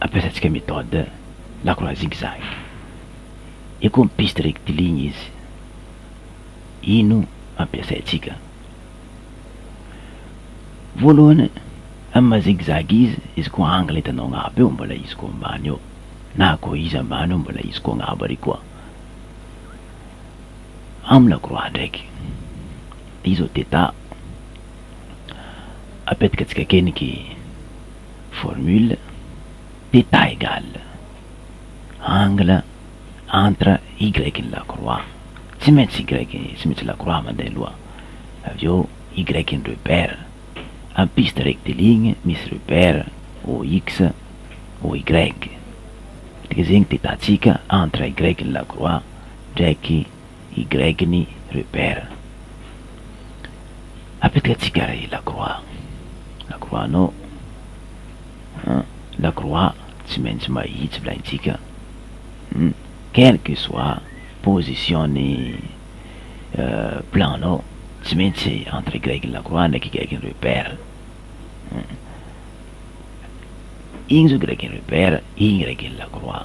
ampiasantsika méthode lacroix zigzag. Io koa mi-piste rectiligne izy. Io no ampiasaintsika. Voalohany, amin'ny maha zigzag izy, izy koa angle hitanao agnabo eo, mbola izy koa ambany eo, na koa izy ambany eo, mbola izy koa agnabo ary koa. Amin'ny lacroix ndraiky, io izao theta, apetakatsika akeniky. Formule, d'état égal, angle entre y ny lakroa, tsy maintsy y, tsy maintsy lakroa mandeha aloha, avy eo y ny repère, am piste rectiligne misy repère OX, OY. Dia zay ny d'état-tsika entre y ny lakroa ndraiky I Greg-ny Rupert. Apetka tsigara i Lacroix. Lacroix no. An, Lacroix tsy maintsy mahitsy volaintsika. Hum, quel que soit position-ny plan-nao, tsy maintsy entre i Greg-ny Lacroix ndraiky i Greg-ny Rupert. Hum. Igny zao Greg-ny Rupert, igny Greg-ny Lacroix.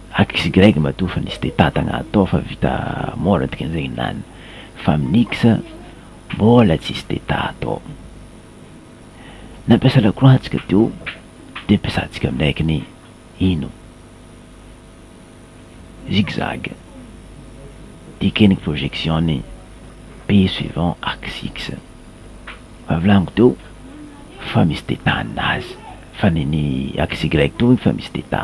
Xy matoa fa nisy dia tantagna atao fa vita mora dikan'izay i Nan. Fa amin'ny X mbola tsisy dia ta atao. Nampiasa lakroa antsika teo dia ampiasantsika amin'X ny ino? Zigzag. Dikany ny projection ny P suivant axe X. Fa volagniko teo fa misy dia ta ninazy fa ny ny Xy toa efa misy dia ta.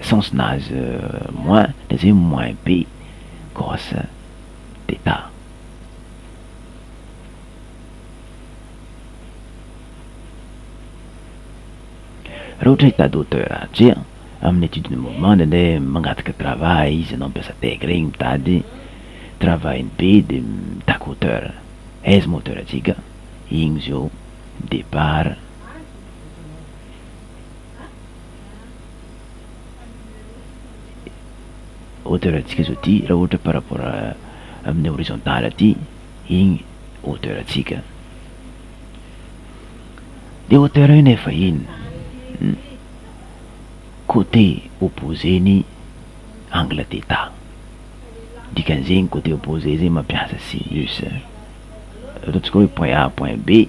sens nazy moins dia zay moins be grosse d'état. Raha ohatra état d'auteur tria amin'ny étude de mouvement dia ndeha mangataka travail izy anao mpiasa tech regny mitady travail-ny be dia mitaky hauteur aiza moa hauteur antsika igny zao départ. hauteur antsika zao ty raha ohatra par rapport amin'ny horizontal aty igny hauteur antsika de hauteur io nefa ino hum côté opposé ny angle theta dikan'izegny côté opposé zegny mampiasa sinus ataontsika hoe point A point B.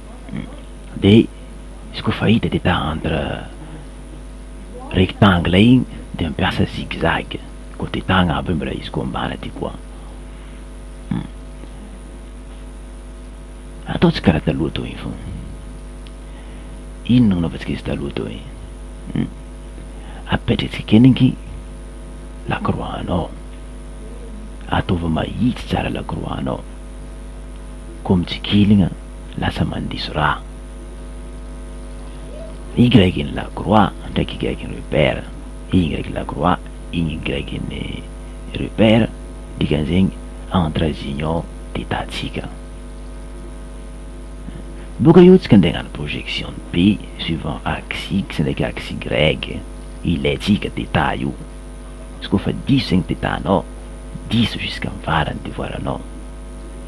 de izy koa fa hita de ta entre rectangle igny de mampiasa zigzag côté ta agnabo igny mbola izy koa ambany aty koa ataontsika karaha taloha teo igny fogna, ino no nanaovantsika izy taloha teo igny? apetratsika kely ny lakroa anao, ataovy mahitsy tsara lakroa anao, koa mitsikiligna. lasa mandiso raha. Y ny Lacroix ndraiky Y ny Repère, Y ny Lacroix, Y ny Repère, dikan'izegny entre azy igny ao de tahantsika. Boka eo tsika ndeha agnano projection B suivant axe X ndraiky axe Y, ilaintsika de taha io. Izy koa fa diso zegny de tahanao diso jusqu'à am' farany devoaranao.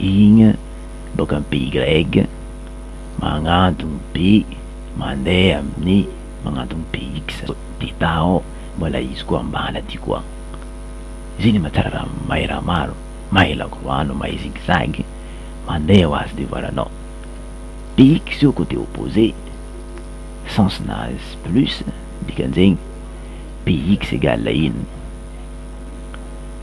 Igny boka am pays grec, magnantogno be mandeha amin'ny magnantogno pays x, beta ao, mbola izy koa ambany aty koa, zay le mahatsara raha mahay raha maro, mahay lagrano, mahay zigzag, mandeha ho azy de voilà anao, pays x io cote opposé, sens nazy plus, dikan'izegny pays x égale ino.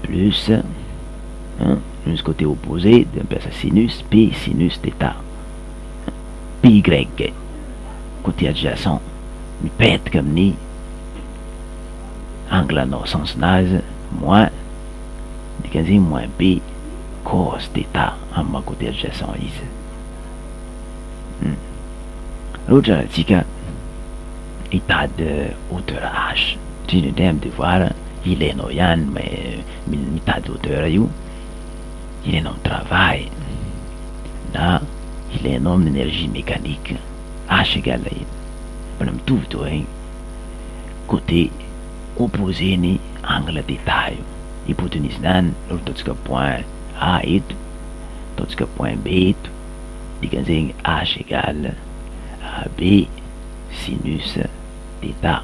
plus hein misy côté opposé dia mampiasa sinus p sinus theta py côté adjacent mipetaka amin'ny angle anao sens-nazy moins dikan'izay moins p cos theta amin'ny maha côté adjacent izy. Ohatra alantsika Mitady auteur âge, indrindra indray amin'ny devoir, ilainao ihany mais mitady auteur io, ilainao amin'ny travail na ilainao amin'ny energie mécanique, âge égale iny, mbola mitovy toa iny, côté opposé ny angle d'état io, hypotenuse-ny any no ataontsika point A eto, ataontsika point B eto. Dikan'izegny H égale AB sinus theta.